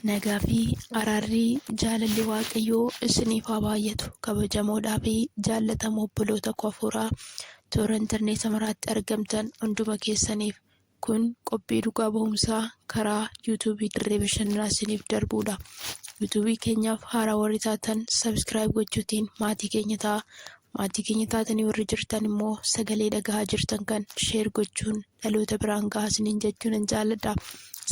Nagaa fi araarri jaalalli waaqayyoo isiniif haa baay'atu kabajamoodhaa fi jaallatamoo obboloota koo hafuuraa toora intarneeta maraatti argamtan hunduma keessaniif kun qophii dhugaa ba'umsaa karaa yuutuubii dirree bashannanaa isiniif darbuudha. Yuutuubii keenyaaf haaraa warri taatan sabiskiraayib gochuutiin maatii keenya ta'a Maatii keenya taatanii warri jirtan immoo sagalee dhagahaa jirtan kan sheer gochuun dhaloota biraan gahaa isiniin jechuu nan jaaladha.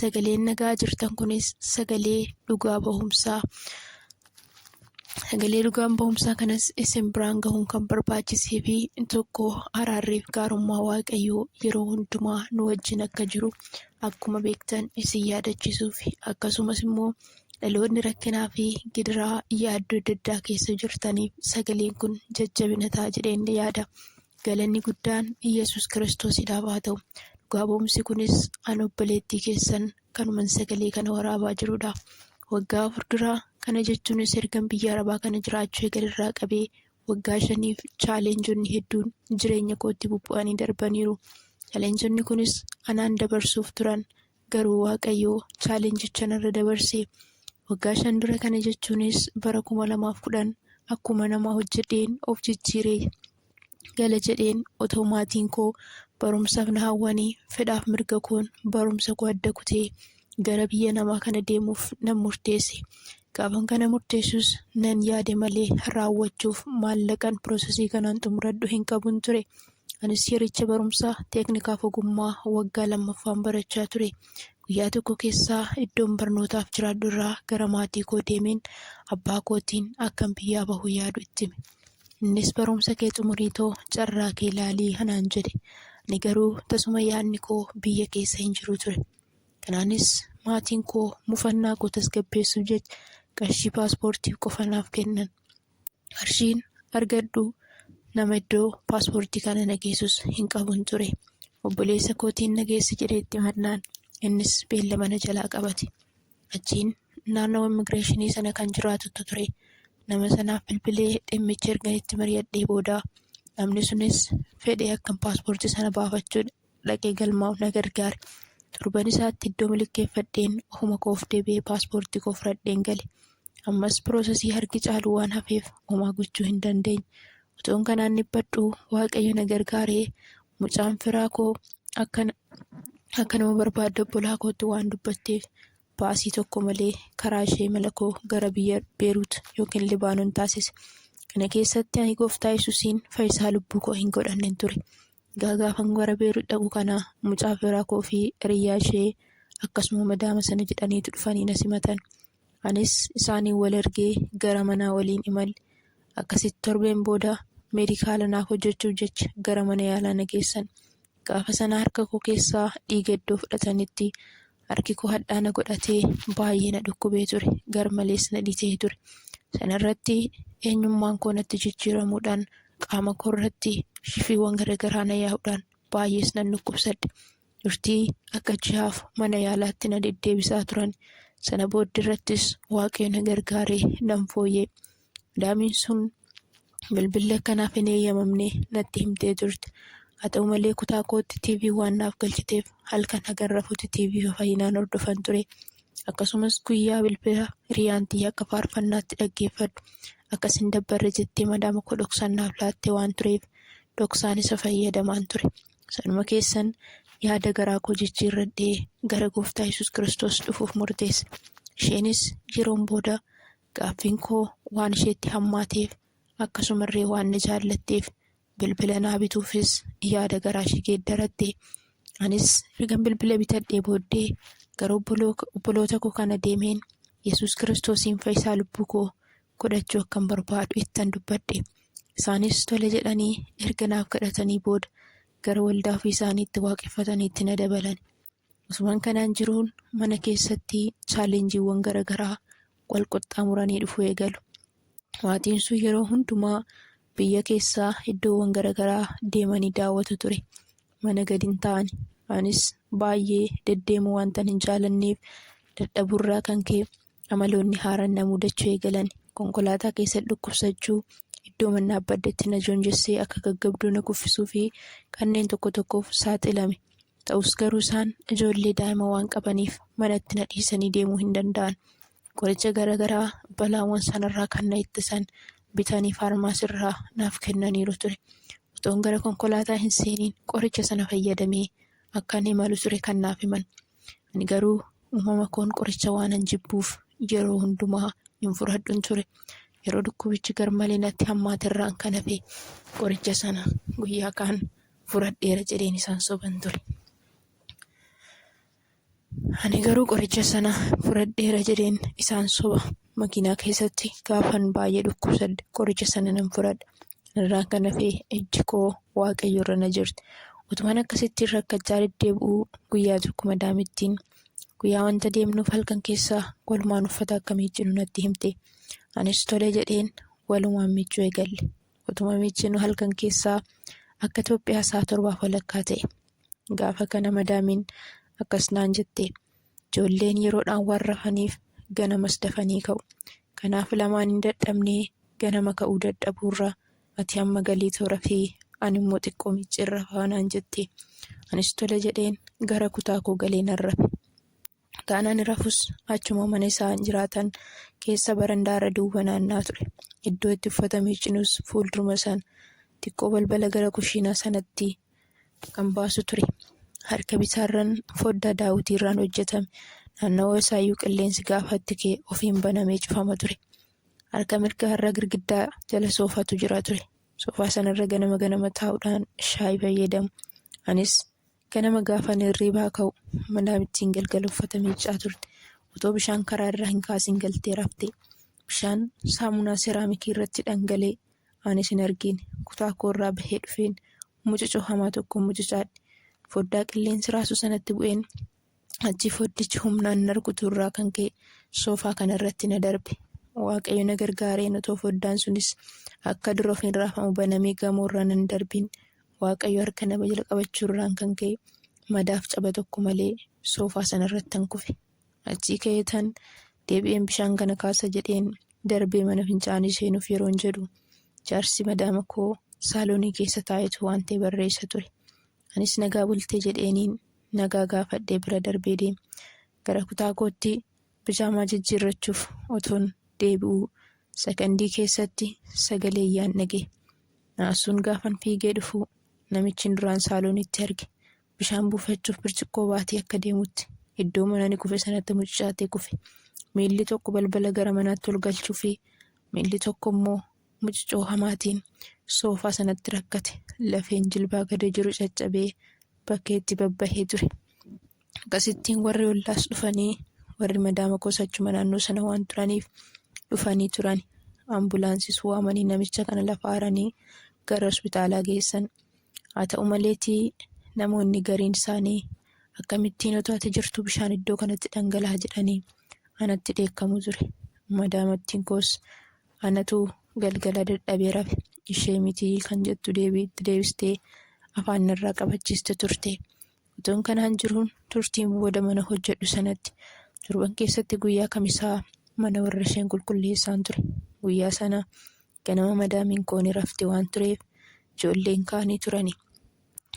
Sagaleen dhagahaa jirtan kunis sagalee dhugaa bahumsaa. Sagalee dhugaan bahumsaa kanas isin biraan gahuun kan barbaachisee fi tokko araarriif gaarummaa waaqayyoo yeroo hundumaa nu wajjin akka jiru akkuma beektan isin yaadachiisuuf akkasumas immoo Dhaloonni rakkinaa fi gidiraa yaaddoo adda addaa keessa jirtaniif sagaleen kun jajjabina ta'a jedheen yaada. Galanni guddaan Yesuus Kiristoosidhaaf haa ta'u. Dhugaa ba'umsi kunis an obboleettii keessan kanuman sagalee kana waraabaa jirudha. Waggaa afur dura kana jechuunis ergan biyya arabaa kana jiraachuu eegalerraa qabee waggaa shaniif chaaleenjonni hedduun jireenya kootti bubbu'anii darbaniiru. Chaaleenjonni kunis anaan dabarsuuf turan Garuu Waaqayyo challenge-icha narra dabarse. Waggaa shan dura kana jechuunis bara 2010 akkuma nama hojjedheen of jijjiiree gala jedheen otoo maatiin koo barumsaaf na hawwanii fedhaaf mirga koon barumsa koo adda kutee gara biyya namaa kana deemuuf nan murteesse. Gaafan kana murteessus nan yaade malee raawwachuuf maallaqan piroosesii kanaan xumuradhu hin qabun ture. Anis yericha barumsa teeknikaaf ogummaa waggaa lammaffaan barachaa ture. Guyyaa tokko keessaa iddoon barnootaaf jiraadhu irraa gara maatii koo deemeen abbaa kootiin akkan biyyaa bahu yaadu itti hime. Innis barumsa kee xumurii too carraa kee laalii anaan jedhe. Ani garuu tasuma yaadni koo biyya keessa hin jiru ture. Kanaanis maatiin koo mufannaa koo tasgabbeessuuf jecha qarshii paaspoortii qofa naaf kennan. qarshiin argadhu nama iddoo paaspoortii kana na geessus hin qabun ture obboleessa kootiin na geessi jedhee itti mannaan innis beellama na jalaa qabate achiin naannoo immigireeshinii sana kan jiraatutu ture nama sanaaf bilbilee dhimmicha ergan itti mari'adhee booda namni sunis fedhe akkan paaspoortii sana baafachuu dhaqee galmaa'uuf na gargaare. Torban isaatti iddoo milikkeeffadheen ofuma koof deebi'ee paaspoortii koo fudhadheen gale. Ammas piroosesii harki caalu waan hafeef homaa gochuu hin dandeenye. Utuun kanaan dhiphadhu Waaqayyo na gargaaree mucaan firaa koo akka akka nama barbaadde obbolaa kootti waan dubbatteef baasii tokko malee karaa ishee mala koo gara biyya Beerut yookiin Libaanon taasise. Kana keessatti ani gooftaa Yesusiin fayyisaa lubbuu koo hin godhannen ture. Egaa gaafan gara Beerut dhaqu kana mucaa firaa koo fi hiriyyaa ishee akkasuma madaama sana jedhaniitu dhufanii na simatan. Anis isaaniin wal argee gara manaa waliin imalle. Akkasitti torbeen booda meedikaala naaf hojjechuuf jecha gara mana yaalaa na geessan. Gaafa sana harka koo keessaa dhiiga iddoo fudhatanitti Harki koo hadhaa na godhatee baay'ee na dhukkubee ture. Garmalees na dhitee ture. Sanarratti eenyummaan koo natti jijjiiramuudhaan qaama koo irratti shifiiwwan garaagaraa na yaa'uudhaan baay'ees nan dhukkubsadhe. Turtii akka ji'aaf mana yaalaatti na deddeebisaa turan. Sana booddeerrattis waaqayyo na gargaaree nan fooyya'e. Madaamiin sun bilbilli akka naaf hin eeyyamamne natti himtee turte. Haa ta'u malee kutaa kootti TV waan naaf galchiteef halkan hagan rafutti TV fayyinaan hordofan ture. Akkasumas guyyaa bilbila hiriyaan tiyya akka faarfannaatti dhaggeeffadhu akkas hin dabbarre jettee madaama koo dhoksaan naaf laatte waan tureef dhoksaan isa fayyadamaan ture. Sanuma keessan yaada garaa koo jijjiirradhee gara gooftaa Yesuus Kiristoos dhufuuf murteesse. Isheenis yeroon booda Gaaffiin koo waan isheetti hammaateef akkasumarree waan na jaallatteef bilbila naa bituufis yaada garaashii geeddaratte. Anis ergan bilbila bitadhee booddee gara obboloota koo kana deemeen Yesuus Kiristoosiin fayyisaa lubbuu koo godhachuu akkan barbaadu ittan dubbadhe. Isaanis tole jedhanii erga naaf kadhatanii booda gara waldaa ofii isaaniitti waaqeffataniitti na dabalan. Osuman kanaan jiruun mana keessatti chaalenjiiwwan garagaraa wal qaxxaamuranii dhufuu eegalu. Maatiin sun yeroo hundumaa biyya keessaa iddoowwan garagaraa deemanii daawwatu ture. Mana gadi hin taa'ani. Anis baay'ee deddeemuu waantan hin jaalanneef dadhabuurraa kan ka'e Amaloonni haaraan na mudachuu eegalan. Konkolaataa keessatti dhukkubsachuu, iddoo manni dhaabbadhetti na joonjessee akka gaggabduu na kuffisuu fi kanneen tokko tokkoof saaxilame. Ta'us garuu isaan ijoollee daa'ima waan qabaniif manatti na dhiisanii deemuu hin danda'an. Qoricha garaagaraa balaawwan sanarraa kan na ittisan bitanii faarmaasirraa naaf kennaniiru ture. Otoon gara konkolaataa hin seeniin qoricha sana fayyadamee akkan imalu ture kan naaf himan. Ani garuu uumama koon qoricha waanan jibbuuf yeroo hundumaa hin fudhadhun ture. Yeroo dhukkubichi garmalee natti hammaate irraan kan hafe qoricha sana guyyaa kaan fudhadheera jedheen isaan soban ture. Ani garuu qoricha sana fudhadheera jedheen isaan soba. Makiinaa keessatti gaafan baay'ee dhukkubsadhe qoricha sana nan fudhadhe. Irraa kan hafe ejji koo waaqayyo irra na jirti. Utuman akkasittiin rakkachaa deddeebi'uu guyyaa tokko madaamittiin guyyaa wanta deemnuuf halkan keessaa walumaan uffata akka miiccinu natti himte. Anis tole jedheen walumaan miiccuu eegalle. Utuma miiccinu halkan keessaa akka Itoophiyaa isaa torbaaf walakkaa ta'e. Gaafa kana madaamiin akkas naan jette. Ijoolleen yeroodhaan waan rafaniif ganamas dafanii ka'u. Kanaaf lamaan hin dadhabnee ganama ka'uu dadhabuurra ati amma galiitoo rafii ani immoo xiqqoo micciin rafaa naan jette. Anis tole jedheen gara kutaa koo galee nan rafe. Kutaan ani rafus achuma mana isaan jiraatan keessa barandaarra duwwa naannaa ture. Iddoo itti uffata miiccinus fuulduruma sana xiqqoo balbala gara kushiinaa sanatti kan baasu ture. Harka bitaarran foddaa daawwitiirraan hojjetame. Naannawaa isaayyuu qilleensi gaafa itti ka'e ofiin banamee cufama ture. Harka mirgaarra girgiddaa jala soofatu jira ture. Soofaa sanarra ganama ganama taa'uudhaan shaayii fayyadamu. Anis ganama gaafan hirriibaa ka'u manaa ittiin galgala uffata miiccaa turte. Otoo bishaan karaa irraa hin kaasin galtee rafte. Bishaan saamunaa seraamikii irratti dhangalee Ani sin argiin kutaa koorraa bahee dhufeen mucucoo hamaa tokko mucucaadhe. Foddaa qilleensi raasu sanatti bu'een achii foddichi humnaan na rukutuurraa kan ka'e soofaa kanarratti na darbe. Waaqayyo na gargaareen otoo foddaan sunis akka dura of hin raafamu banamee gamoorra nan darbiin Waaqayyo harka nama jala qabachuurraan kan ka'e madaaf caba tokko malee soofaa sanarrattan kufe. Achii ka'eetan deebi'een bishaan kana kaasa jedheen darbee mana fincaanii seenuuf yeroon jedhu jaarsi madaama koo saaloonii keessa taa'etu waan ta'e barreessa ture. Anis nagaa bultee jedheeniin nagaa gaafadhee bira darbee deeme. Gara kutaa kootti bijaamaa jijjiirrachuuf otoon deebi'uu sakandii keessatti sagalee iyyaan dhaga'e. Naasuun gaafan fiigee dhufuu namichi duraan saaloonitti arge Bishaan buufachuuf birciqqoo baatee akka deemutti iddoo manani kufe sanatti mucucaatee kufe. Miilli tokko balbala gara manaatti ol galchuufi miilli tokko immoo mucucoo hamaatiin soofaa sanatti rakkate. Lafeen jilbaa gada jiru caccabee bakkeetti babbahee ture. Akkasittiin warri ollaas dhufanii warri madaama koos achuma naannoo sana waan turaniif dhufanii turan. Ambulaansis waamanii namicha kana lafa haranii gara hospitaalaa geessan. Haa ta'u maleetii namoonni gariin isaanii akkamittiin otoo ati jirtuu bishaan iddoo kanatti dhangalaha jedhanii anatti dheekkamu ture. Madaamattiin koos anatu galgala dadhabee rafe ishee mitii kan jettu deebii itti deebistee afaan irraa qabachiiste turte. Otoon kanaan jiruun turtiin booda mana hojjedhu sanatti torban keessatti guyyaa kamisaa mana warra isheen qulqulleessaan ture. Guyyaa sana Ganama madaamiin koo ni rafti waan tureef ijoolleen kaanii turani.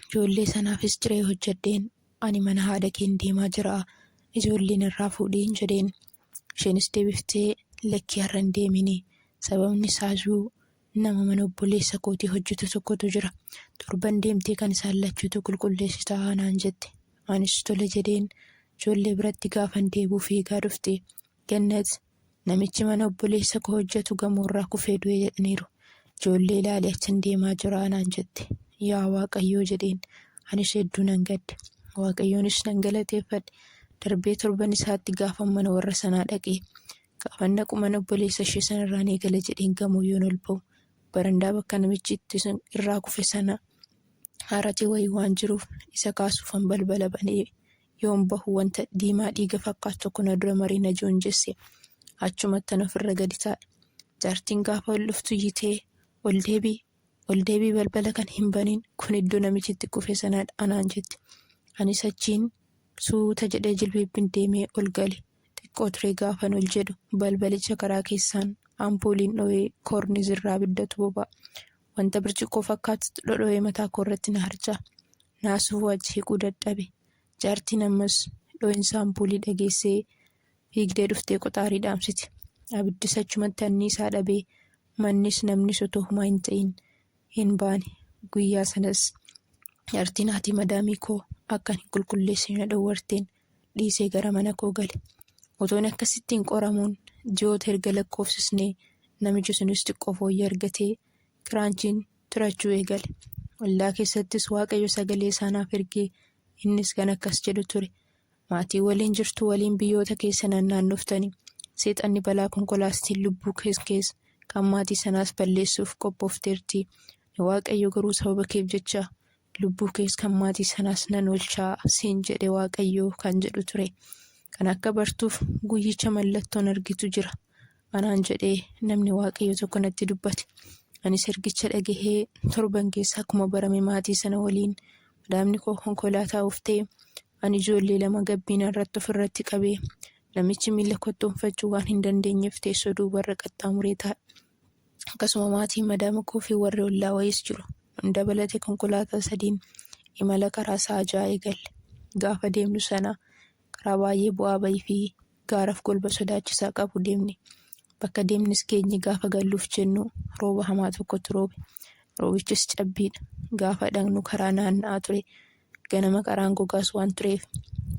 Ijoollee sanaafis ciree hojjedheen ani mana haadha keen deemaa jira ijoolleen irraa fuudhiin jedheen. Isheenis deebiftee lakkii har'a hin deemini sababni isaayuu nama mana obboleessa kootii hojjetu tokkotu jira torban deemtee kan isaan lachuutu qulqulleessitaa naan jette. Anis tole jedheen ijoollee biratti gaafan deebuu fiigaa dhufte. Gannat Namichi mana obboleessa koo hojjetu gamoorraa kufee du'e jedhaniiru. Ijoollee ilaalee achan deemaa jira anaan jette. Yaa Waaqayyoo jedheen. Anis hedduu nan gadde. Waaqayyoonis nan galateeffadhe. Darbee torban isaatti gaafan mana warra sanaa dhaqee. Gaafan dhaqu mana obboleessa ishee sanarraan eegala jedheen gamoo yoon ol ba'u. Barandaa bakka namichi itti irraa kufe sana haarati wayii waan jiruuf isa kaasuufan balbala banee Yoon bahu wanta diimaa dhiiga fakkaatu tokko na dura marii na joonjesse. Achumattan ofirra gadi taa'e. Jaartiin gaafa ol dhuftu iyyitee, Ol deebii! Ol deebii balbala kan hin baniin kun iddoo namichi itti kufe sanaadha anaan jette. Anis achiin suuta jedhee jilbiibbin deemee ol gale. Xiqqoo turee gaafan ol jedhu balbalicha karaa keessaan ampuuliin dho'ee koornizirraa abiddatu boba'a. Wanta birciqqoo fakkaatutu dhodhoo'ee mataa koo irratti na harca'a. Naasuu waa jeequu dadhabe. Jaartiin ammas dhoo'insa ampuulii dhageessee fiigdee dhuftee qoxaarii dhaamsite. Abiddis achumatti anniisaa dhabee mannis namnis otoo humaa hin ta'in hin baane. Guyyaa sanas jaartiin haati madaamii koo akkan hin qulqulleessine na dhowwarteen dhiisee gara mana koo gale. Otoon akkasittiin qoramuun ji'oota erga lakkoofsisnee namichi sunis xiqqoo fooyyee argatee kiraanchiin tirachuu eegale. Ollaa keessattis waaqayyo sagalee isaa naaf ergee innis kan akkas jedhu ture. Maatii waliin jirtu waliin biyyoota keessa naannaannoftani. Seexanni balaa konkolaastiin lubbuu kees kees kan maatii sanaas balleessuuf qophoofteerti. Waaqayyo garuu sababa keef jecha Lubbuu kees kan maatii sanaas nan oolcha siin jedhe Waaqayyo kan jedhu ture. Kana akka bartuuf guyyicha mallattoon argitu jira. Anaan jedhee namni Waaqayyo tokko natti dubbate. Anis ergicha dhagahee torban keessa akkuma barame maatii sana waliin madaamni koo konkolaataa uftee ani ijoollee lama gabbiina irratti ofirratti qabee namichi miila kottoonfachuu waan hin dandeenyeef teessoo duubarra qaxxaamuree taa'e. akkasuma maatiin madaama koo fi warri ollaa wayiis jiru. Nu dabalatee konkolaataa sadiin imala karaa sa'a ja'a eegalle. Gaafa deemnu sana karaa baay'ee bu'aa bayii fi gaaraaf golba sodaachisaa qabu deemne. Bakka deemnes geenye gaafa galluuf jennu rooba hamaa tokkotu roobe. Roobichis cabbiidha. Gaafa dhaqnu karaa naanna'aa ture. Ganama karaan gogaas waan tureef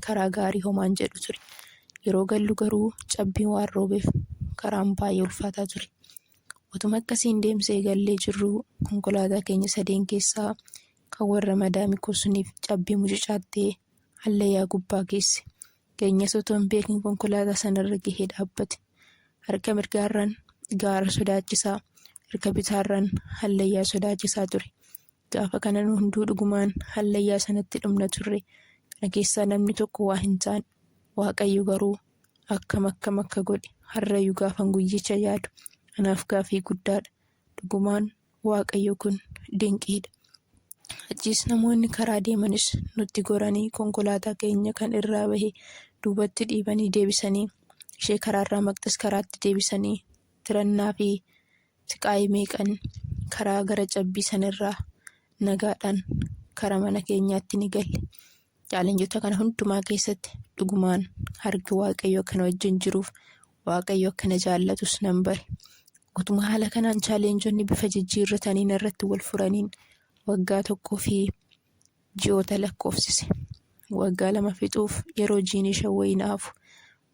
karaa gaarii homaa hin jedhu ture. Yeroo gallu garuu cabbiin waan roobeef karaan baay'ee ulfaataa ture. Utuma akkasiin deemsee gallee jirru konkolaataa keenya sadeen keessaa kan warra madaami kosuniif cabbii mucucaattee hallayyaa gubbaa geesse. Keenyas otoo hin beekin konkolaataa sanarra gahee dhaabbate. Harka mirgaarraan gaara sodaachisaa, harka bitaarraan hallayyaa sodaachisaa ture. Gaafa kana nu hunduu dhugumaan hallayyaa sanatti dhumna turre. Kana keessaa namni tokko waa hin taane. Waaqayyo garuu akkam akkam akka godhe har'ayyuu gaafan guyyicha yaadu anaaf gaafii guddaadha. Dhugumaan Waaqayyo kun dinqiidha. Achiis namoonni karaa deemanis nutti goranii konkolaataa keenya kan irraa bahe duubatti dhiibanii deebisanii ishee karaarraa maqxis karaatti deebisanii tirannaa fi siqaayii meeqan karaa gara cabbii sanirraa nagaadhaan karaa mana keenyaatti ni galle. Chaalenjota kana hundumaa keessatti dhugumaan harki waaqayyoo kana wajjin jiruuf waaqayyo akkana jaallatus nan bare. Utuma haala kanaan chaalenjonni bifa jijjiirrataniin irratti wal furaniin waggaa tokkoo fi ji'oota lakkoofsise. Waggaa lama fixuuf yeroo jiini shan wayii na hafu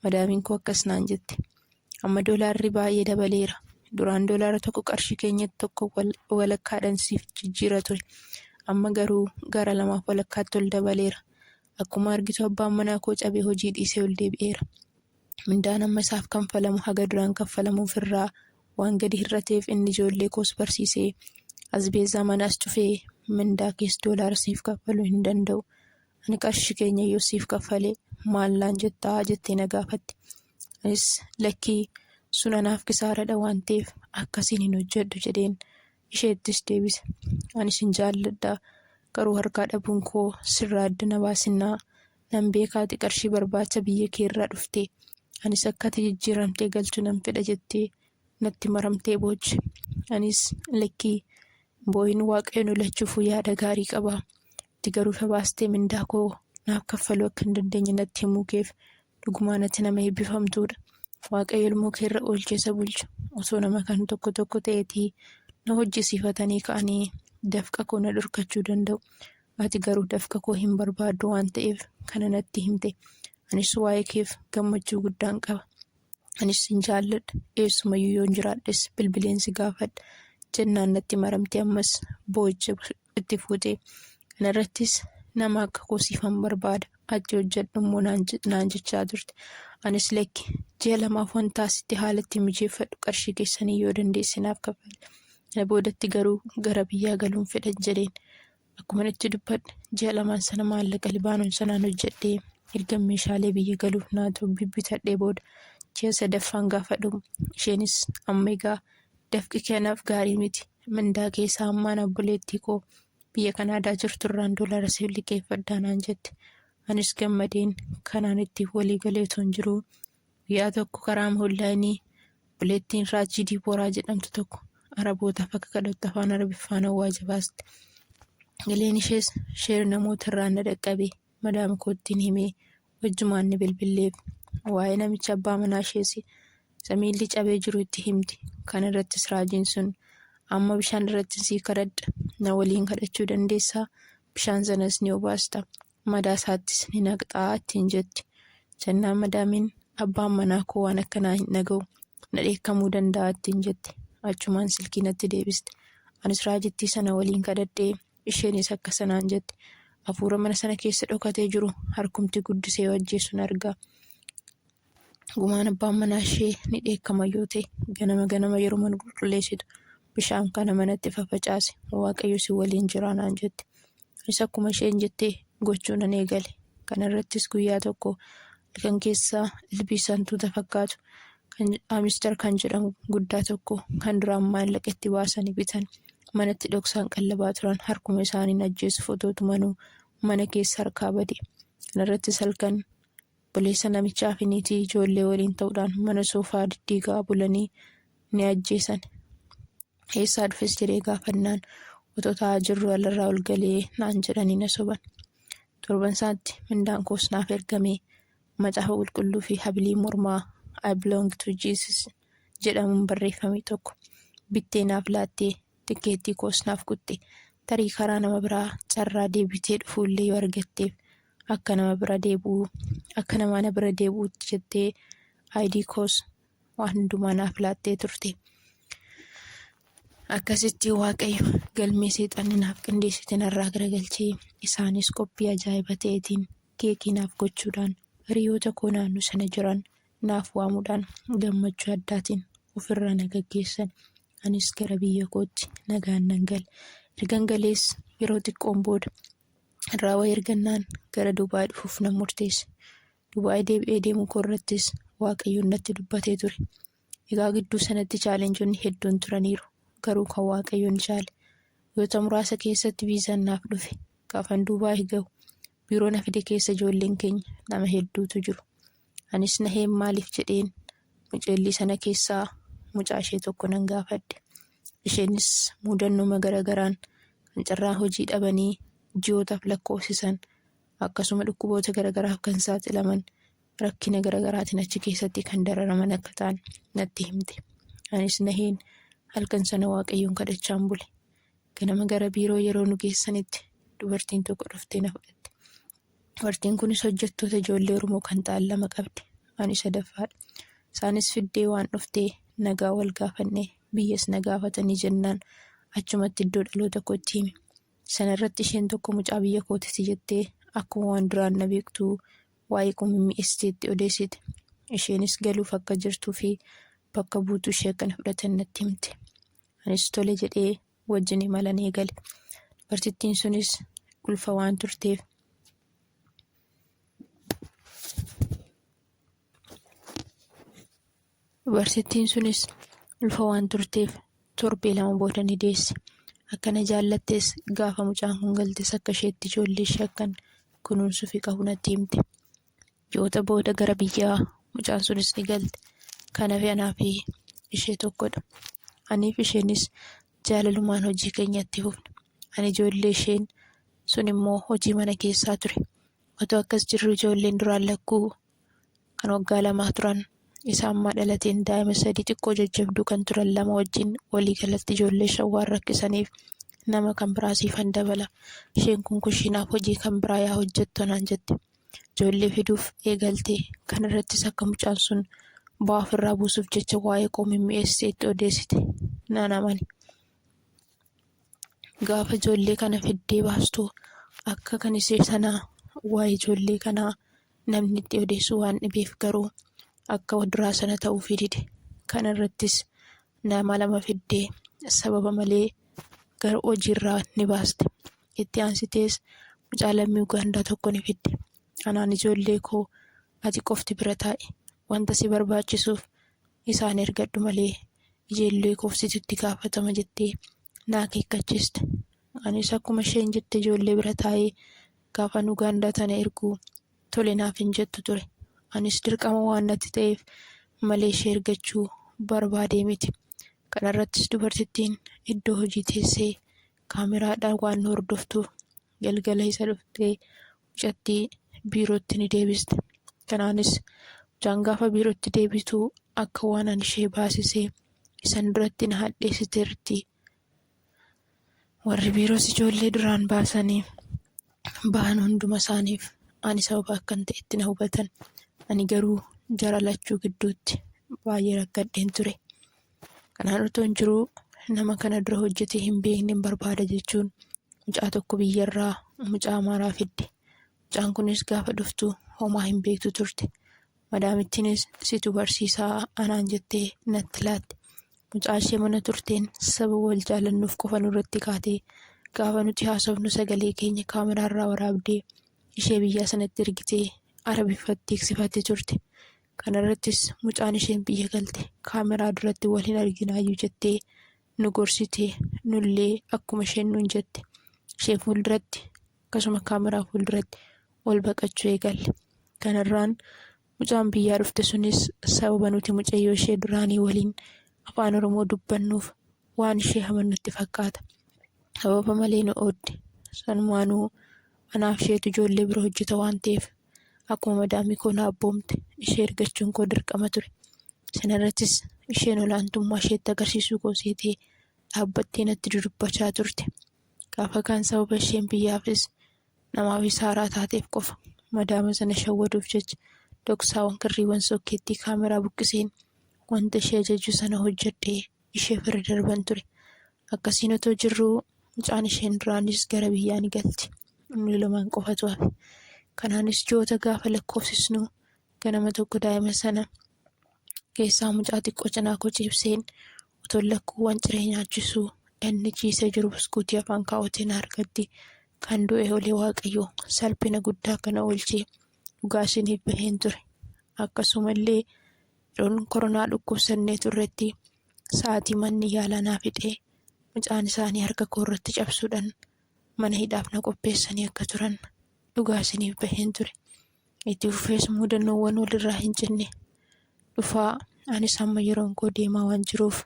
madaamiin koo akkas naan jette. Amma doolaarri baay'ee dabaleera. Duraan doolaara tokko qarshii keenyatti tokko walakkaadhaan siif jijjiira ture. Amma garuu gara lamaaf walakkaatti ol dabaleera. Akkuma argitu abbaan manaa koo cabee hojii dhiisee ol deebi'eera. Mindaan amma isaaf kanfalamu haga duraan kanfalamuuf irraa waan gadi hir'ateef inni ijoollee koos barsiisee asbeezaa manaas cufee mindaa kees doolaara siif kaffaluu hin danda'u. Ani qarshii keenya yoo siif kaffale maal naan jettaa jettee na gaafatte. Anis lakkii sun anaaf kisaaradha waan ta'eef akkasiin hin hojjedhu jedheen isheettis deebise. Anis hin jaalladha garuu harkaa dhabuun koo sirraa adda na baasinnaa Nan beeka ati qarshii barbaacha biyya keerraa dhufte. Anis akka ati jijjiiramtee galtu nan fedha jettee natti maramtee booche. Anis lakki hin boo'in Waaqayyo nu lachuufuu yaada gaarii qaba. Ati garuu ifa baastee mindaa koo naaf kaffaluu akka hin dandeenye natti himuu keef dhugumaan ati nama eebbifamtuudha. Waaqayyo ilmoo keerra oolchee isa bulcha. Osoo nama kan tokko tokko ta'eetii na hojjisiifatanii ka'anii dafqa koo na dhorkachuu danda'u. Ati garuu dafqa koo hin barbaaddu waan ta'eef kana natti himte. Anis waa'ee keef gammachuu guddaan qaba. Anis sin jaalladha. Eessumayyuu yoon jiraadhes bilbileen si gaafadha. Jennaan natti maramte ammas boo'icha itti fuute. Kana irrattis nama akka koo siifan barbaada. Ati hojjedhu immoo naan jechaa turte. Anis lakki ji'a lamaaf wanta asitti haala itti mijeeffadhu qarshii keessanii yoo dandeesse naaf kaffali. Kana boodatti garuu gara biyyaa galuun fedhan jedheen. Akkuman itti dubbadhe, ji'a lamaan sana maallaqa Libaanon sanaan hojjedhee ergan meeshaalee biyya galuuf naa ta'u bibbitadhee booda ji'a sadaffaan gaafa dhumu isheenis amma egaa dafqi kanaaf gaarii miti mindaa keessaa hammaan obboleettii koo biyya kanaadaa jirturraan doolaara siif liqeeffadhaa naan jette anis gammadeen kanaan itti walii galee utuun jiruu Guyyaa tokko karaama onlaayinii obboleettiin Raajii Diibooraa jedhamtu tokko Arabootaaf akka kadhattu afaan Arabiffaan awwaaja baaste. Galeen ishees sheer namoota irraan na dhaqqabe madaama koottiin himee wajjumaan ni bilbilleef. Waa'ee namicha abbaa manaa ishees isa miilli cabee jiru itti himte. Kana irrattis raajiin sun amma bishaan irratti sii kadhadha na waliin kadhachuu dandeessaa bishaan sanas ni obaasta madaa isaattis ni naqxaa ittiin jetti. Jennaan madaamiin abbaan manaa koo waan akkanaa hin dhaga'u na dheekkamuu danda'a ittiin jette. Achumaan silkii natti deebiste. Anis raajittii sana waliin kadhadhee isheenis akka sanaan jette. Hafuura mana sana keessa dhokatee jiru harkumti guddisee yoo ajjeesun arga. gumaan abbaan manaa ishee ni dheekkama yoo ta'e ganama ganama yeroo mana qulqulleessitu bishaan kana manatti fafacaase waaqayyo si waliin jiraa naan jette. Isa akkuma isheen jettee gochuu nan eegale. Kana irrattis guyyaa tokko halkan keessaa ilbiisa hantuuta fakkaatu kan amister kan jedhamu guddaa tokko kan duraan maallaqa itti baasanii bitan manatti dhoksaan qallabaa turan harkuma isaaniin ajjeesuuf otoo tumanuu mana keessa harkaa bade. Kana irrattis halkan Obboleessa namichaa fi niitii ijoollee waliin ta'uudhaan mana soofaa diddiigaa bulanii ni ajjeesan. Eessaa dhufes jedhee gaafannaan otoo taa'aa jirru alarraa ol galee naan jedhanii na soban. Torban isaatti mindaan koos naaf ergamee macaafa qulqulluu fi habilii mormaa I belong to Jesus jedhamuun barreeffame tokko bittee naaf laattee tikkeettii koos naaf kutte tarii karaa nama biraa carraa deebitee dhufuullee yoo argatteef akka nama bira deebi'u akka nama ana bira deebi'utti jettee aayidii koos waan hundumaa naaf laattee turte. Akkasitti waaqayyo galmee seexanni naaf qindeessite narraa garagalchee isaanis qophii ajaa'iba ta'eetiin keekii naaf gochuudhaan hiriyoota koo naannoo sana jiran naaf waamuudhaan gammachuu addaatiin ofirraa na gaggeessan anis gara biyya kootti nagaan nan gale. Ergan galees yeroo xiqqoon booda irraa wayii argannaan gara Dubaay dhufuuf nan murteesse. Dubaay deebi'ee deemuu koo irrattis Waaqayyoon natti dubbatee ture. Egaa gidduu sanatti chaalenjonni hedduun turaniiru. Garuu kan Waaqayyoon chaale. Guyyoota muraasa keessatti viizaan naaf dhufe. Gaafan Dubaay gahu biiroo na fide keessa ijoolleen keenya nama hedduutu jiru. Anis naheen maaliif jedheen muceellii sana keessaa mucaa ishee tokko nan gaafadhe. Isheenis muudannooma gara garaan kan carraa hojii dhabanii ji'ootaaf lakkoofsisan akkasuma dhukkuboota gara garaaf kan saaxilaman rakkina gara garaatiin achi keessatti kan dararaman akka ta'an natti himte. Anis naheen halkan sana waaqayyoon kadhachaan bule. Ganama gara biiroo yeroo nu geessanitti dubartiin tokko dhuftee na fudhatte. Dubartiin kunis hojjettoota ijoollee Oromoo kan ta'an lama qabdi. Ani sadaffaadha. Isaanis fiddee waan dhuftee nagaa wal gaafannee biyyas na gaafatanii jennaan achumatti iddoo dhaloota kootti hime. Sana irratti isheen tokko mucaa biyya kootiti jettee akkuma waan duraan na beektuu waa'ee koo mimmi'eessiteetti odeessite. Isheenis galuuf akka jirtuu fi bakka buutuu ishee akka na fudhatan natti himte. Anis tole jedhee wajjin imalan eegale. Dubartittiin sunis ulfa waan turteef. Dubartittiin sunis ulfa waan turteef torbee lama booda ni deesse. Akkana jaallattes gaafa mucaan kun galtes akka isheetti ijoollee ishee akkan kunuunsuufi qabu natti himte. Ji'oota booda gara biyyaa mucaan sunis ni galte. Kan hafe anaa fi ishee tokkodha. Anii fi isheenis jaalalumaan hojii keenya itti fufne. Ani ijoollee isheen sun immoo hojii mana keessaa ture. Otoo akkas jirru ijoolleen duraan lakkuu kan waggaa lamaa turan isa ammaa dhalateen daa'ima sadii xiqqoo jajjabduu kan turan lama wajjin walii galatti ijoollee shan waan rakkisaniif nama kan biraa siifan dabala. Isheen kun kushinaaf hojii kan biraa yaa hojjettu naan jette. ijoollee fiduuf eegalte. Kana irrattis akka mucaan sun bu'aa ofirraa buusuuf jecha waa'ee koo mimmi'eessitee itti odeessite naan amane. Gaafa ijoollee kana fiddee baastu akka kan ishee sanaa waa'ee ijoollee kanaa namni itti odeessu waan dhibeef garuu akka duraa sana ta'uufii dide. Kana irrattis nama lama fiddee sababa malee gara hojiirraa ni baaste. Itti aansitees mucaa lammii Ugaandaa tokko ni fidde. Anaan ijoollee koo ati qofti bira taa'i. Wanta si barbaachisuuf isaan ergadhu malee ijoollee koof situ itti gaafatama jettee na akeekkachiiste. Anis akkuma isheen jette ijoollee bira taa'ee gaafan Ugaandaa tana erguu tole naaf hin jettu ture. Anis dirqama waan natti ta'eef malee ishee ergachuu barbaadee miti. Kanarrattis dubartittiin iddoo hojii teessee kaameraadhaan waan nu hordoftuuf galgala isa dhuftee mucattii biirootti ni deebiste. Kanaanis mucaan gaafa biirootti deebitu akka waan an ishee baasisee isan duratti na hadheessiteerti. Warri biiroos ijoollee duraan baasanii bahan hunduma isaaniif ani sababa akkan ta'etti na hubatan. Ani garuu jara lachuu gidduutti baay'ee rakkadheen ture. Kanaan otoo hin jiruu nama kana dura hojjetee hin beekne barbaada jechuun mucaa tokko biyyarraa mucaa amaaraa fidde. Mucaan kunis gaafa dhuftu homaa hin beektu turte. Madaamittiinis situ barsiisaa anaan jettee natti laatte. Mucaa ishee mana turteen saba wal jaalannuuf qofa nurratti kaatee gaafa nuti haasofnu sagalee keenya kaameraarraa waraabdee ishee biyyaa sanatti ergitee arabiffatti eegsifatte turte. Kanarrattis mucaan isheen biyya galte kaameraa duratti wal hin arginaayyuu jettee nu gorsite. Nullee akkuma isheen nuun jette ishee fuulduratti akkasuma kaameraa fuulduratti ol baqachuu eegalle. Kanarraan mucaan biyyaa dhufte sunis sababa nuti mucayyoo ishee duraanii waliin afaan Oromoo dubbannuuf waan ishee haman nutti fakkaata. Sababa malee nu oodde. Sanumaanuu anaaf isheetu ijoollee bira hojjeta waan ta'eef akkuma madaamii koo na abboomte ishee ergachuun koo dirqama ture. Sanarrattis isheen olaantummaa isheetti agarsiisuu koo seetee dhaabbattee natti dudubbachaa turte. Gaafa kaan sababa isheen biyyaafis namaafis haaraa taateef qofa madaama sana shawwaduuf jecha dhoksaawwan kirriiwwan sokkeettii kaameraa buqqiseen wanta ishee ajajju sana hojjedhee ishee bira darban ture. Akkasiin otoo jirruu mucaan isheen duraanis gara biyyaa ni galti. Inni lamaan qofatu hafe. Kanaanis ji'oota gaafa lakkoofsisnu ganama tokko daa'ima sana keessaa mucaa xiqqoo cinaa koo ciibseen otoo lakkuuwwan ciree nyaachisuu inni ciisee jiru buskuutii afaan kaawwateen harkatti kan du'e olee waaqayyoo salphina guddaa kana oolchee dhugaa isiniif baheen ture. Akkasumallee Yeroon koronaa dhukkubsannee turretti sa'aatii manni yaalaa naa fixee mucaan isaanii harka koo irratti cabsuudhaan mana hidhaaf na qopheessanii akka turan dhugaa isiniif baheen ture. Itti fufees muudannoowwan walirraa hin cinne dhufaa anis amma yeroon koo deemaa waan jiruuf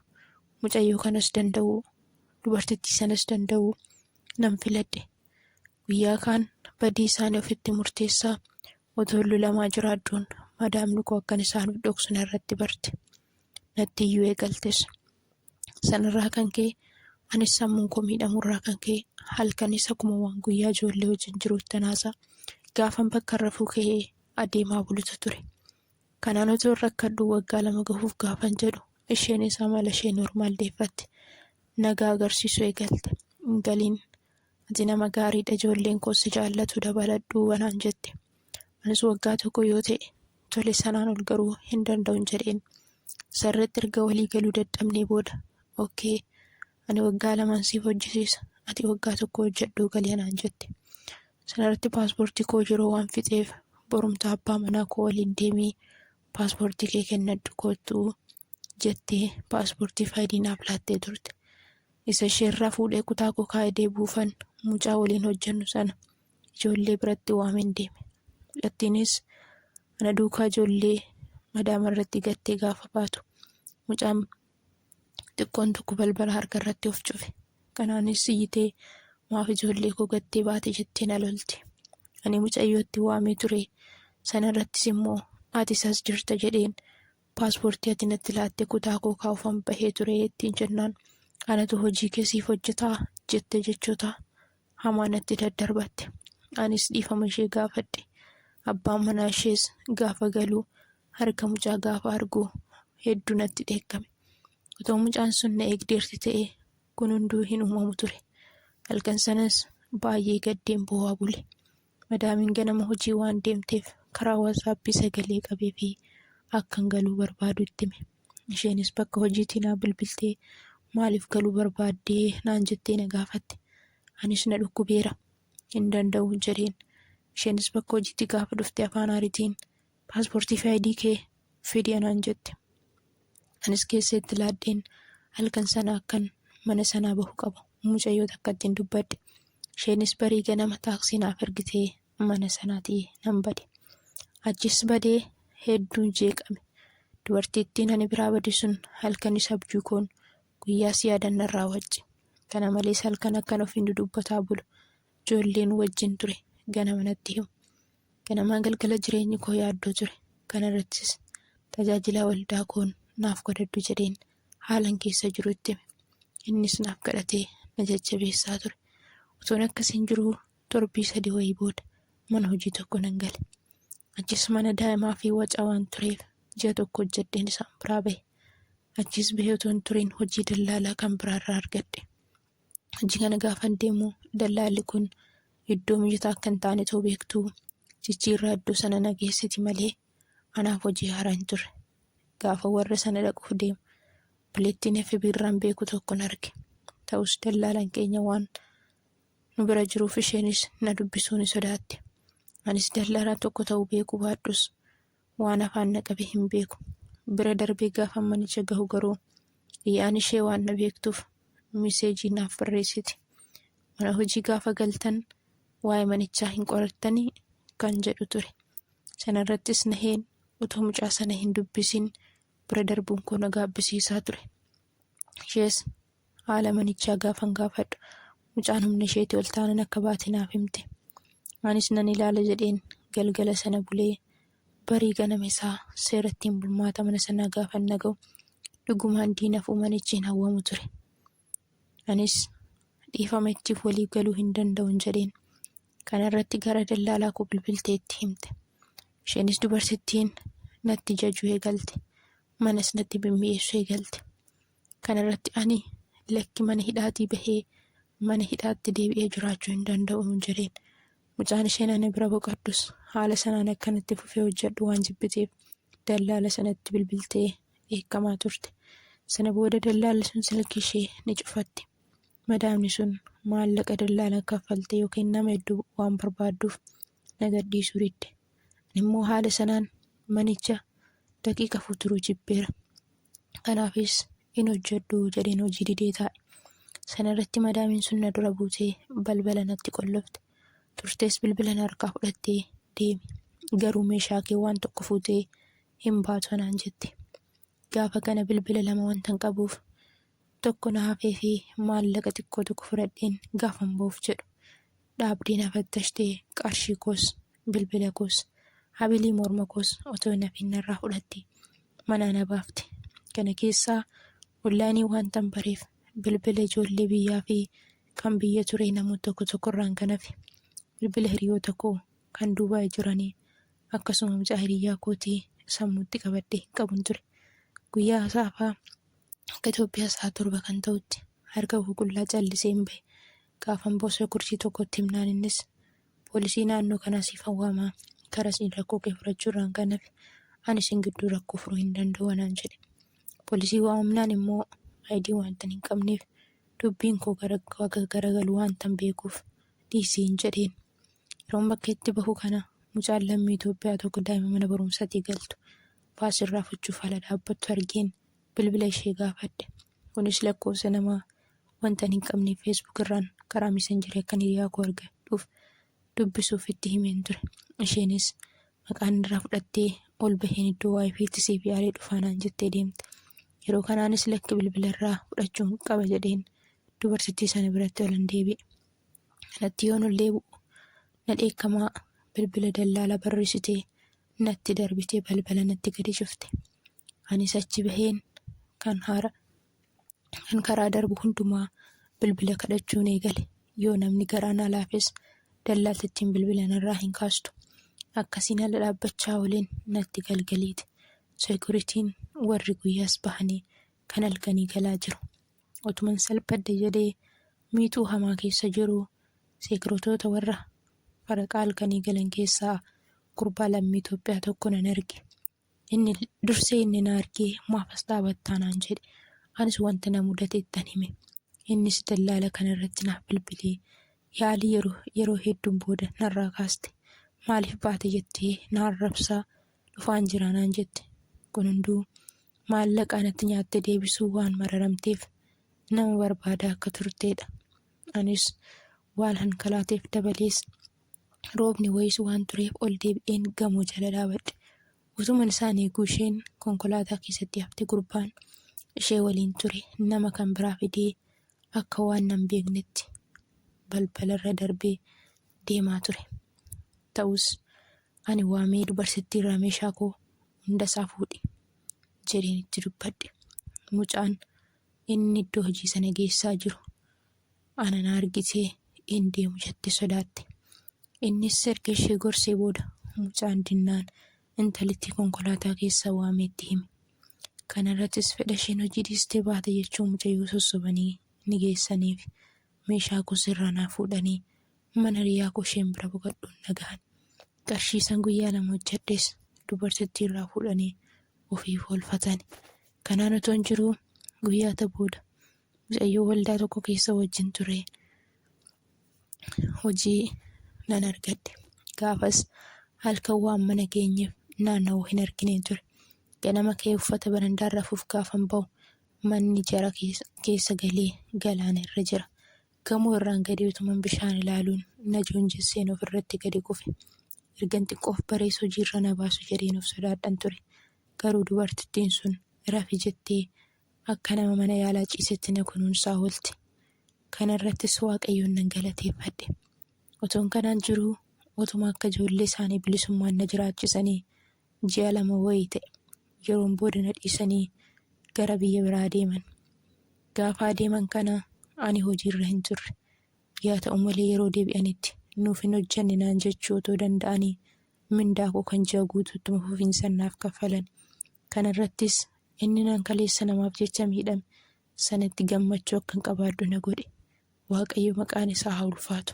mucayyoo kanas danda'u dubartittii sanas danda'u nan filadhe. Guyyaa kaan badii isaanii ofitti murteessaa Otoon lolamaa jiraadhuun madaamni koo akkan isaan of dhoksu narratti barte. Natti iyyuu eegaltes. Sanarraa kan ka'e anis sammuun koo miidhamurraa kan ka'e halkanis akkuma waan guyyaa ijoollee wajjin jiruuttan haasa'a. Gaafan bakkan rafuu ka'ee adeemaa bulutu ture. Kanaan otoon rakkadhuu waggaa lama gahuuf gaafan jedhu isheenis amala ishee normaal deeffatte. Nagaa agarsiisuu eegalte. Hin galiin Ati nama gaariidha ijoolleen koos si jaallatu dabaladhu anaan jette. Anis waggaa tokko yoo ta'e tole sanaan ol garuu hin danda'un jedheen. Sarratti erga walii galuu dadhabnee booda okkee ani waggaa lamaan siif hojjisiisa ati waggaa tokko hojjedhuu galii anaan jette. Sanarratti paaspoortii koo yeroo waan fixeef borumtaa abbaa manaa koo waliin deemii paaspoortii kee kennadhu koottuu jettee paaspoortii faayidii naaf laattee turte. Isa isheerraa fuudhee kutaa koo kaa'e deebi'uufan mucaa waliin hojjennu sana ijoollee biratti waameen deeme. Mucattiinis ana duukaa ijoollee madaama irratti gattee gaafa baatu mucaan xiqqoon tokko balbala harka irratti of cufe. Kanaanis iyyitee maaf ijoollee koo gattee baate jettee na lolte. Ani mucayyootti waamee ture sanarrattis immoo ati isas jirta jedheen Paaspoortii ati natti laatte kutaa koo kaa'uufan bahee ture ittiin jennaan anatu hojii kee siif hojjetaa jettee jechoota hamaa natti daddarbatte. Anis dhiifama ishee gaafadhe. Abbaan manaa ishees gaafa galuu harka mucaa gaafa argu hedduu natti dheekkame. Otoo mucaan sun na eegdeerti ta'ee kun hunduu hin uumamu ture. Halkan sanas baay'ee gaddeen boo'aa bule. Madaamiin ganama hojii waan deemteef karaa WhatsApp sagalee qabee fi akkan galuu barbaadu itti hime. Isheenis bakka hojiitii naa bilbiltee maaliif galuu barbaaddee naan jettee na gaafatte. Anis na dhukkubeera. Hin danda'u jedheen. Isheenis bakka hojiitti gaafa dhufte afaan aaritiin Paaspoortii fi ID kee fidi anaan jette. Anis geessee itti laadheen halkan sana akkan mana sanaa bahu qabu mucayyoo takkattiin dubbadhe. Isheenis barii ganama taaksii naaf ergitee mana sanaatii nan bade. Achis badee hedduun jeeqame. Dubartittiin ani biraa bade sun halkanis abjuu koon guyyaas yaadan narraa wacce. Kana malees halkan akkan ofiin dudubbataa bulu ijoolleen wajjin ture ganama natti himu. Ganamaa galgala jireenyi koo yaaddoo ture. Kana irrattis tajaajilaa waldaa koon naaf kadhadhu jedheen haalan keessa jiru itti hime. Innis naaf kadhatee na jajjabeessaa ture. Utuun akkasiin jiruu torbii sadii wayii booda mana hojii tokko nan gale. Achis mana daa'imaa fi wacaa waan tureef ji'a tokko hojjedheen isaan biraa bahe. Achiis bahee utuu hin turin hojii dallaalaa kan biraarraa argadhe. hojii kana gaafan deemu dallaalli kun iddoo mijataa akka hin taane too beektu jijjiirraa iddoo sana na geessiti malee anaaf hojii haaraa hin turre. Gaafa warra sana dhaquuf deemu bileettiin FB irraan beeku tokkon arge. Ta'us dallaalan keenya waan nu bira jiruuf isheenis na dubbisuu ni sodaatte. Anis dallaalaa tokko ta'uu beekuu baadhus Waan afaan na qabe hin beeku. Bira darbee gaafan manicha gahu garuu Liyaan ishee waan na beektuuf miseejii naaf barreessiti. Mana hojii gaafa galtan waa'ee manichaa hin qorattanii? kan jedhu ture. Sana irrattis Naheen utuu mucaa sana hin dubbisin bira darbuun koo na gaabbisiisaa ture. Ishees haala manichaa gaafan gaafadhu mucaan humna isheetii ol taanan akka baate naaf himte. Anis nan ilaala jedheen galgala sana bulee barii ganama isaa seerattiin bulmaata mana sanaa gaafan naga'u dhugumaan diinaf uumanichi hin hawwamu ture. Anis dhiifama ittiif waliif galuu hin danda'un jedheen. Kana irratti gara dallaalaa koo bilbiltee itti himte. Isheenis dubartittiin natti jajuu eegalte. Manas natti bimmi'eessu eegalte. Kana irratti ani, Lakki mana hidhaatii bahee mana hidhaatti deebi'ee jiraachuu hin danda'u jedheen. Mucaan isheen ana bira boqaddus haala sanaan akkan itti fufee hojjedhu waan jibbiteef dallaala sanatti bilbiltee dheekkamaa turte. Sana booda dallaalli sun silkii ishee ni cufatti. Madaamni sun maallaqa dallaalaan kaffalte yookiin nama hedduu waan barbaadduuf na gadhiisuu didde. Ani immoo haala sanaan manicha daqiiqa afur turuu jibbeera. Kanaafis hin hojjedhu jedheen hojii didee taa'e. Sana irratti madaamiin sun na dura buutee balbala natti qollofte. Turtees bilbila na harkaa fudhattee deemi. Garuu meeshaa kee waan tokko fuutee hin baatu anaan jette. Gaafa kana bilbila lama wantan qabuuf tokko na hafee fi maallaqa xiqqoo tokko fudhadheen gaafan ba'uuf jedhu dhaabdee na fattashtee qarshii koos bilbila koos habilii morma koos otoo hin hafiin narraa fudhatte manaa na baafte kana keessaa onlaayinii waantan bareef bilbila ijoollee biyyaa fi kan biyya turee namoota tokko tokkorraan kan hafe bilbila hiriyoota koo kan duubaa'e jiranii akkasuma mucaa hiriyyaa kootii sammuutti qabadhee hin qabun ture guyyaa saafaa akka Itoophiyaa sa'a torba kan ta'utti harka koo qullaa callisee hin bahe Gaafan boosa gursii tokko itti himnaan innis poolisii naannoo kanaa siifan waamaa karaa siin rakkoo kee furachuu irraan kan hafe ani isin gidduu rakkoo furuu hin danda'u anaan jedhe. Poolisii waamamnaan immoo ID waantan hin qabneef dubbiin koo gara akka garagalu waantan beekuuf dhiisiin jedheen. Yeroon bakka itti bahu kana mucaan lammii Itoophiyaa tokko daa'ima mana barumsaatii galtu baasii irraa fuchuuf ala dhaabbattu argeen bilbila ishee gaafadhe. Kunis lakkoofsa nama wanta hin qabne Facebook irraan karaa messengerii akkan hiriyaa koo argadhuuf dubbisuuf itti himeen ture. Isheenis maqaan irraa fudhattee ol baheen iddoo waayifiitti siif yaadee dhufaanaan jettee deemte. Yeroo kanaanis lakki bilbila irraa fudhachuun qaba jedheen dubartittii sana biratti ol hin deebi'e. Kanatti yoon ol deebi'u na dheekkamaa bilbila dallaala barreessitee natti darbitee balbala natti gadi cufte. Anis achi baheen kan haara kan karaa darbu hundumaa bilbila kadhachuun eegale. Yoo namni garaa na laafes dallaaltittiin bilbila narraa hin kaastu. Akkasiin ala dhaabbachaa waliin natti galgaliiti. Sekuritiin warri guyyaas bahanii kan halkanii galaa jiru. Otuman salphadhe jedhee miixuu hamaa keessa jiru seekiritoota warra faraqaa halkanii galan keessaa gurbaa lammii Itoophiyaa tokko nan arge. Inni dursee inni na argee maaf as dhaabattaa naan jedhe. Anis wanta na mudate ittan hime. Innis dallaala kana irratti naaf bilbilee yaalii yeroo yeroo hedduun booda narraa kaaste. Maaliif baate jettee na arrabsaa dhufaan jira naan jette. Kun hunduu maallaqa anatti nyaatte deebisuu waan mararamteef nama barbaadaa akka turteedha. Anis waan hankalaateef dabalees Roobni wayisu waan tureef ol deebi'een gamoo jala dhaabadhe. Utuman isaan eeguu isheen konkolaataa keessatti hafte gurbaan ishee waliin ture nama kan biraa fidee akka waan nan beeknetti balbalarra darbee deemaa ture. Ta'us ani waamee dubarsittii irraa meeshaa koo hunda isaa fuudhi jedheen itti dubbadhe. Mucaan inni iddoo hojii sana geessaa jiru ana na argisee in deemu jettee sodaatte. Innis erga ishee gorsee booda mucaan dinnaan intalittii konkolaataa keessaa waamee itti hime. Kana irrattis fedha isheen hojii dhiistee baate jechuun mucayyoo sossobanii ni geessaniif. Meeshaa koo sirraa naa fuudhanii mana hiriyaa koo isheen bira boqadhuun na gahan. Qarshii san guyyaa lama hojjedhes dubartittii irraa fuudhanii ofiif oolfatani. Kanaan otoon jiruu guyyaata booda mucayyoo waldaa tokko keessa wajjin ture hojii nan argadhe gaafas halkan waan mana keenyeef naanna'u hin argineen ture ganama kee uffata barandaa rafuuf gaafan ba'u manni jara keessa galee galaana irra jira gamoo irraan gadee utuman bishaan ilaaluun na joonjesseen of irratti gadi kufe ergan xiqqoof barees hojiirra na baasu jedheen of sodaadhan ture garuu dubartittiin sun rafi jettee Akka nama mana yaalaa ciisetti na kunuunsaa oolte. Kana irrattis Waaqayyoon nan galateeffadhe. Otoon kanaan jiruu otuma akka ijoollee isaanii bilisummaan na jiraachisanii ji'a lama wayii ta'e. Yeroon booda na dhiisanii gara biyya biraa deeman. Gaafa adeeman kana ani hojiirra hin turre. Yaa ta'u malee yeroo deebi'anitti nuuf hin hojjanne naan jechuu otoo danda'anii mindaa koo kan ji'a guutuu ittuma fufiinsan naaf kaffalan. Kana irrattis, Inni nan kaleessa namaaf jecha miidhame sanatti gammachuu akkan qabaadhu na godhe. Waaqayyo maqaan isaa haa ulfaatu.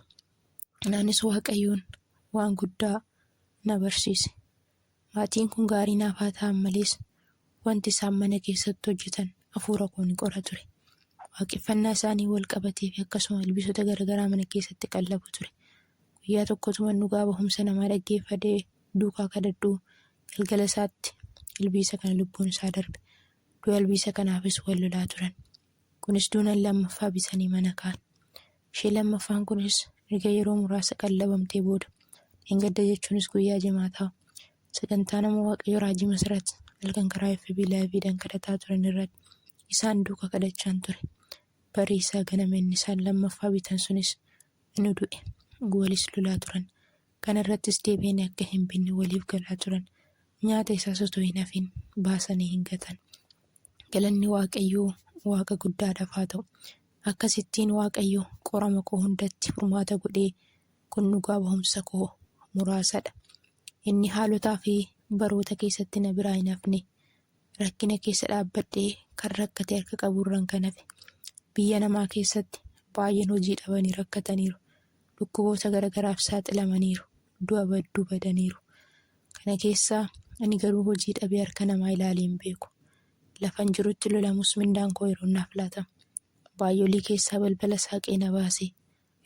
Anis Waaqayyoon waan guddaa na barsiise. Maatiin kun gaarii naaf haa ta'an malees, wanti isaan mana keessatti hojjetan hafuura koo ni qora ture. Waaqeffannaa isaanii wal qabatee fi akkasuma ilbiisota garaagaraa mana keessatti qallabu ture. Guyyaa tokkotuman dhugaa bahumsa namaa dhaggeeffadhee duukaa kadhadhuu Galgala isaatti ilbiisa kana lubbuun isaa darbe. Du'a ilbiisa kanaafis wal lolaa turan. Kunis duunan lammaffaa bisanii mana kaan. Ishee lammaffaan kunis erga yeroo muraasa qallabamtee booda dheengadda jechuunis guyyaa jimaataa sagantaa nama waaqayyo raajii masarat halkan karaa FB laayiviidhaan kadhataa turan irratti isaan duuka kadhachaan ture. Barii isaa ganama inni isaan lammaffaa bitan sunis inu du'e. Walis lolaa turan. Kana irrattis deebi'anii akka hin binne waliif galaa turan. Nyaata isaas utuu hin hafin baasanii hin gatan. Galanni Waaqayyoo Waaqa guddaadhaaf haa ta'u! Akkasittiin Waaqayyo qorama koo hundatti furmaata godhee kun dhugaa bahumsa koo muraasadha. Inni haalotaa fi baroota keessatti na biraa hin hafne. Rakkina keessa dhaabbadhee kan rakkate harka qabu irran kan hafe. Biyya namaa keessatti baay'een hojii dhabanii rakkataniiru. dhukkuboota garagaraaf saaxilamaniiru, du'a badduu badaniiru. Kana keessaa ani garuu hojii dhabee harka namaa ilaalee hin beeku. Lafan jirutti lolamus mindaan koo yeroon naaf laatama. Baay'olii keessaa balbala saaqee na baasee,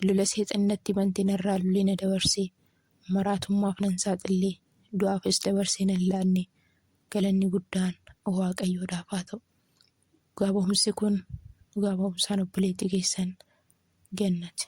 lola seexanni natti bante narraa lulee na dabarsee, maraatummaaf nan saaxillee, du'aafis dabarsee nan laannee. Galanni guddaan Waaqayyoodhaaf haa ta'u. Dhugaa ba'umsi kun dhugaa ba'umsaan obboleetti keessan. Gannat.